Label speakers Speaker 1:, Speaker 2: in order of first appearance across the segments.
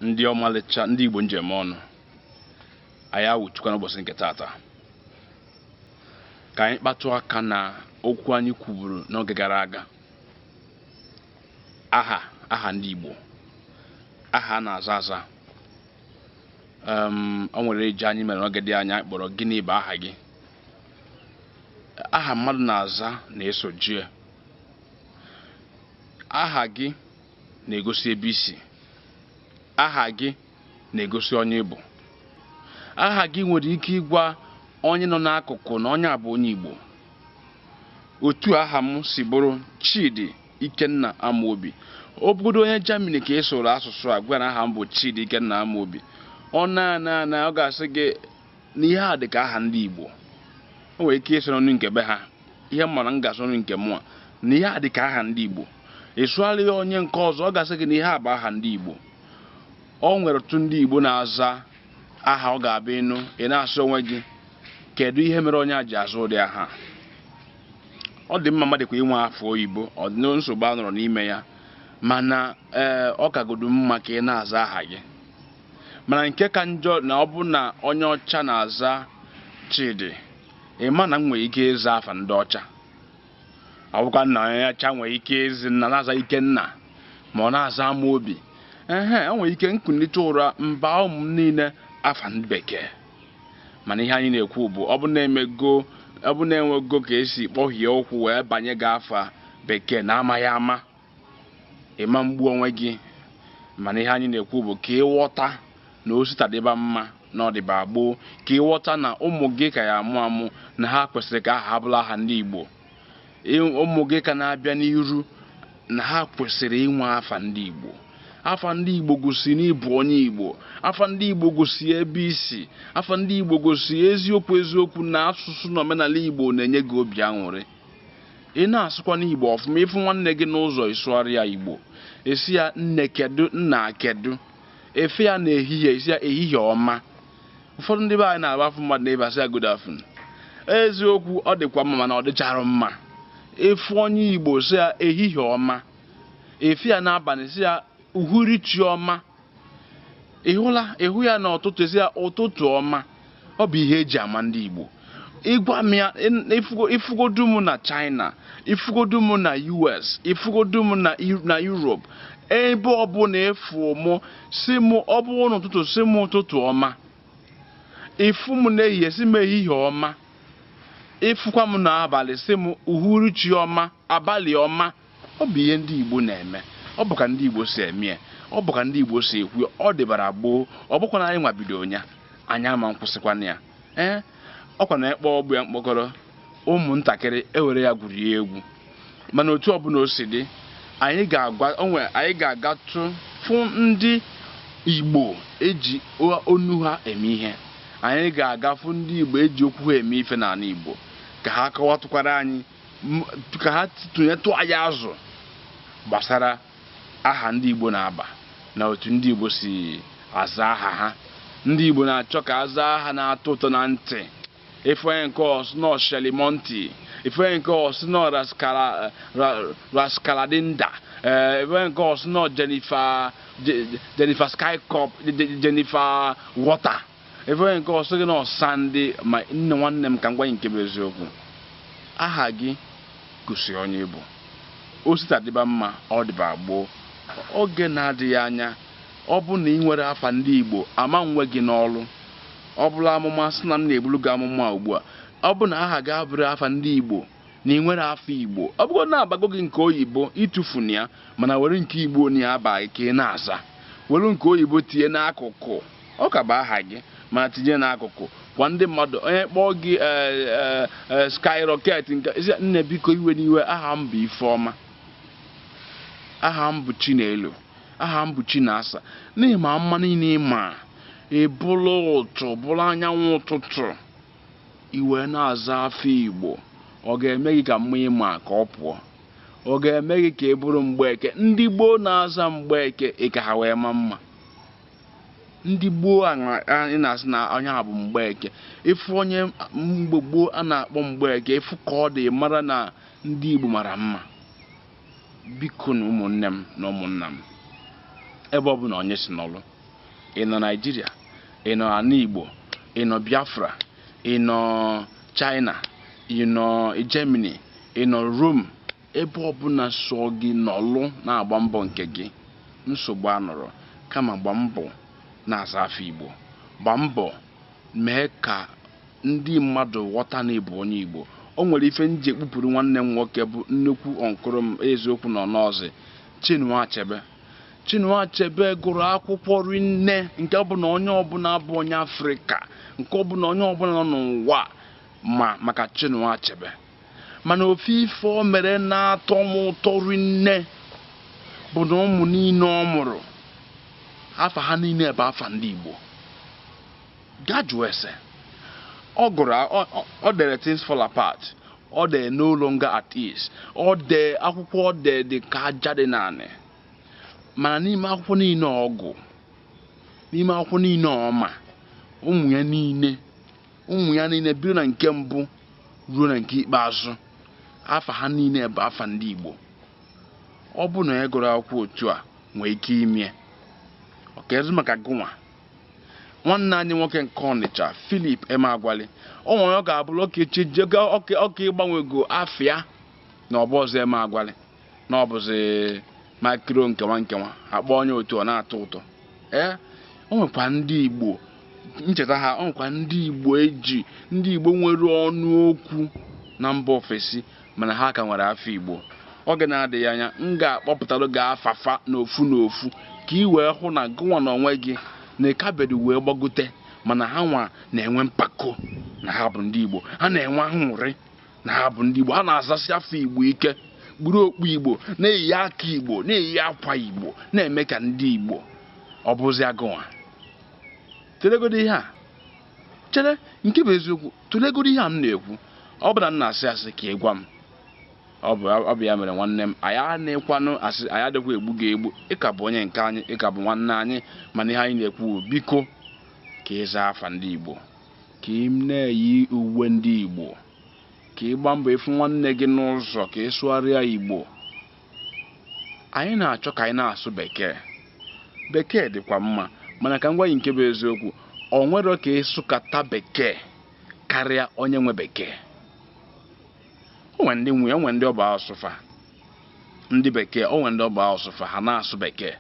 Speaker 1: ndị ọmalịcha ndị Igbo m ji eme ọnụ anyị awụchakwa n'ụbọchị nke tata ka anyị kpatụ aka na okwu anyị kwuburu n'oge gara aga aha aha ndị Igbo aha a na-aza aza o nwere ejije anyị mere n'oge dị anya anyị kpọrọ gịnị bụ aha gị aha mmadụ na-aza na-esojie aha gị na-egosi ebe i si aha gị na-egosi onye ị bụ aha gị nwere ike ịgwa onye nọ n'akụkụ na onye a bụ onye Igbo otu aha m si bụrụ Chidi Ikenna Amobi ọ bụgodu onye Germany ka ị sụụrụ asụsụ a gwara aha m bụ Chidi Ikenna Amobi ọ na-ana ana ọ ga-asị gị na ihe a dị ka aha ndị Igbo o nwere ike ịsụ n'onu nke be ha ihe m mara m ga-asụ n'onu nke mụa na ihe a dị ka aha ndị Igbo ị sụgharị ya onye nke ọzọ ọ ga-asị gị na ihe a bụ aha ndị Igbo o nwere ọtụtụ ndị Igbo na-aza aha ọ ga-abụ ị nụ ị na-asị onwe gị kedu ihe mere onye a ji aza ụdị aha ọ dị mma mmadụ kwa inwe afa oyibo ọ dị nsogbu anọrọ n'ime ya mana ee ọ kagodu mma ka ị na-aza aha gị mana nke ka njọ na ọ bụ na onye ọcha na-aza Chidi ị ma na m nwere ike ịza afa ndị ọcha ọ bụkwa na onye ọcha nwere ike ịza nna na-aza Ikenna ma ọ na-aza Amobi ehe o nwere ike m kunite ụra m baa ụmụ m niile afa ndị bekee mana ihe anyị na-ekwu bụ ọ bụ na e mego ọ bụ na e nwego ka e si kpọhie ụkwụ wee banye gị afa bekee na amaghị ama ị ma egbu onwe gị mana ihe anyị na-ekwu bụ ka ị ghọta na osita dịba mma na ọ dịba gboo ka ị ghọta na ụmụ gị ka ya-amụ amụ na ha kwesịrị ka aha ha bụrụ aha ndị Igbo ụmụ gị ka na-abịa n'iru na ha kwesịrị inwe afa ndị Igbo afa ndị Igbo gosi na ị bụ onye Igbo afa ndị Igbo gosi ebe i si afa ndị Igbo gosi eziokwu eziokwu na asụsụ na omenala Igbo na-enye gị obi aṅụrị ị na-asụkwanụ Igbo ọfụma ị fụ nwanne gị n'ụzọ ị sụgharị ya Igbo ị sị ya nne kedu nna kedu ị fụ ya na ehihie ị sị ya ehihie ọma ụfọdụ ndị be anyị na-abụ a fụ mmadụ na ịbasị ya good afternoon eziokwu ọ dịkwa mma mana ọ dịchara mma ịfụ onye Igbo sị ya ehihie ọma ị fụ ya n'abalị ị sị ya uhuruchi ọma ị hụla ị hụ ya n'ụtụtụ ị sị ya ụtụtụ ọma ọ bụ ihe e ji ama ndị Igbo ịgwa m ya ị- ị fụgo- ị fụgodu m na China ị fụgodu m na US ị fụgodu m na Eu- na Europe ebe ọbụla ị fụ mụ sị m ọ bụ n'ụtụtụ sị m ụtụtụ ọma ị fụ m n'ehihie sị m ehihie ọma ị fụkwa m n'abalị sị m uhuruchi ọma abalị ọma ọ bụ ihe ndị Igbo na-eme ọ bụ ka ndị Igbo si eme ya ọ bụ ka ndị Igbo si ekwu ya ọ dịbara gboo ọ bụkwa na anyị nwa bido nya anyị ama nkwụsịkwana ya ee ọkwa na ekpe ọgbụ ya mkpọkọrọ ụmụntakịrị ewere ya gwuri egwu mana otu ọbụla o si dị anyị ga-agatụ fụ ndị Igbo eji ọnụ ha eme ihe anyị ga-aga fụ ndị Igbo eji okwu ha eme ife n'anị Igbo ka ha kọwatụkwara anyị ka ha tụnyetụ anyị azụ gbasara aha ndị Igbo na-aba na otu ndị Igbo si aza aha ha ndị Igbo na-achọ ka aza aha na-atọ ụtọ na ntị ị fụ onye nke ọ sị na ọ shelimonti ị fụ onye nke ọ sị na ọ raskaladinda eh, ị fụ onye nke ọ sị na ọ Jennifer skycop Jennifer water ị fụ onye nke ọ sị gị na ọ Sandy ma nne nwanne m ka m gwa gị nke bụ eziokwu aha gị gosi onye ị bụ o si taa dịba mma ọ dịba gboo oge na-adịghị anya ọ bụrụ na ị nwerọ afa ndị igbo ama nwe gị n'ọlụ ọ bụla amụma sị na m na-ebulu gị amụma ugbu a ọ bụ na aha gị abụrọ afa ndị igbo na ị nwerọ afa igbo ọ bụgo na a bago gị nke oyibo etufuna ya mana were nke igbo na ya aba gị ka ị na-aza were nke oyibo tinye n'akụkụ Ọ ka bụ aha gị mana tinye n'akụkụ gwa ndị mmadụ onye kpọọ gị skyrocket nke nne biko ewena iwe aha m bụ Ifeọma aha m bụ Chinelo aha m bụ Chinasa na ị ma mma niile ị ma ị bụrụ ụtụ bụrụ anyanwụ ụtụtụ ị wee na-aza afa Igbo ọ ga-eme gị ka mma ị ma ka ọ pụọ ọ ga-eme gị ka ị bụrụ mgbeke ndị gboo na-aza mgbeke ị ka ha wee ma mma ndị gboo a na- a- ị na-asị na onye a bụ mgbeke ị fụ onye mgbe gboo a na-akpọ mgbeke ị fụ ka ọ dị mara na ndị igbo mara mma bikonụ ụmụnne m na ụmụnna m ebe ọbụna onye si nọlụ ị nọ naijiria ị nọ anị igbo ị nọ biafra ị nọ china ị nọ germany ị nọ rome Ebe ọbụla sọọ gị nọlụ na-agba mbọ nke gị, nsogbu anọrọ. Kama gba mbọ na-aza afa Igbo. Gba mbọ mee ka ndị mmadụ ghọta na ị bụ onye Igbo. O nwere ife m ji ekpupuru nwanne m nwoke bụ nnukwu uncle m eziokwu na ọ nọzị, Chinua Achebe. Chinua Achebe gụrụ akwụkwọ rinne nke bụ na onye ọbụla bụ onye Afrịka, nke ọ bụ na onye ọbụla nọ n'ụwa ma maka Chinua Achebe. mana ofu ife o mere na-atọ m ụtọ rinne bụ na ụmụ niile ọ mụrụ afa ha niile bụ afa ndị Igbo gaa jụọ ese ọ gụrụ o dere things fall apart o dee no longer at ease o dee akwụkwọ o dee dị ka aja dị n'anị mana n'ime akwụkwọ niile ọ gụ n'ime akwụkwọ niile ọ ma ụmụ ya niile ụmụ ya niile bido na nke mbụ ruo na nke ikpeazụ afa ha niile bụ afa ndị Igbo ọ bụ na ya gụrụ akwụkwọ otu a nwee ike imie ọ kezi maka gụnwa nwanne anyị nwoke nke Ọnịcha Philip Emeagwali o nwere ọ ga-abụrụ ọka echi ọka ịgbanwego afa ya na ọ bụrọzi Emeagwali na ọ bụzi makiro nkenwa nkenwa akpọ onye otu ọ na-atọ ụtọ ee o nwekwa ndị igbo ncheta ha o nwekwa ndị igbo eji ndị igbo nwere ọnụ okwu na mba ofesi mana ha ka nwere afa igbo oge na-adịghị anya m ga-akpọpụtara gị afa fa n'ofu n'ofu ka ị wee hụ na gụnwa na onwe gị na ị kaberọ wee gbagote mana ha nwa na-enwe mpako na ha bụ ndị igbo ha na-enwe aṅụrị na ha bụ ndị Igbo ha na-azasi afa Igbo ike kpuru okpu Igbo na-eyi aka Igbo na-eyi akwa Igbo na-eme ka ndị Igbo ọ bụzịa gụnwa tụlegodo ihe a chere nke bụ eziokwu tụlegodo ihe a m na-ekwu ọ bụ na m na-asị asị ka ị gwa m ọ bụ ya mere nwanne m anyị anekwanụ asị anyị adịkwa egbu gị egbu ị ka bụ onye nke anyị ị ka bụ nwanne anyị mana ihe anyị na-ekwu biko ka ị zaa afa ndị Igbo ka ị na-eyi uwe ndị Igbo ka ị gbaa mbọ ị fụ nwanne gị n'ụzọ ka ị sụgharịa Igbo anyị na-achọ ka anyị na-asụ bekee bekee dịkwa mma mana ka m gwa gị nke bụ eziokwu o nwerọ ka ị sụkata bekee karịa onye nwe bekee onwe ndị nwe onwe ndị ọ bụ asụsụ fa ndị bekee onwe ndị ọ bụ asụsụ fa ha na-asụ bekee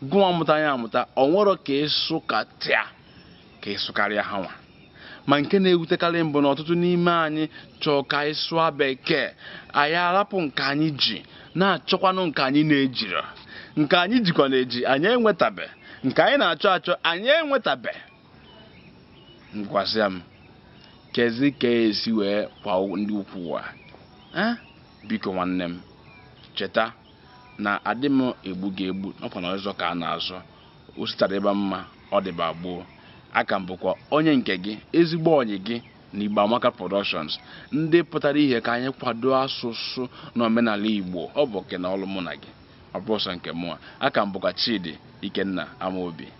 Speaker 1: gụwa mụta ya amụta o nwerọ ka ị sụkata ka ị sụkarịa ha nwa ma nke na-ewutekarị m bụ na ọtụtụ n'ime anyị chọọ ka anyị sụọ bekee anyị arapụ nke anyị ji na-achọkwanụ nke anyị na-ejirọ nke anyị jikwanụ eji anyị enwetabe nke anyị na-achọ achọ anyị enwetabe gwazia m kezi ka e si wee kwa ndị ukwu ụwa biko nwanne m cheta na adị m egbu gị egbu ọ kwa na azọ ka a na-azọ o si taa dịba mma ọ dịba gboo a ka m bụkwa onye nke gị ezigbo ọyị gị na Igbo Amaka Productions ndị pụtara ihe ka anyị kwado asụsụ na omenala Igbo ọ bụ oke na ọlụ mụ na gị ọ bụrọ sọ nke mụa a ka m bụkwa Chidi Ikenna Amaobi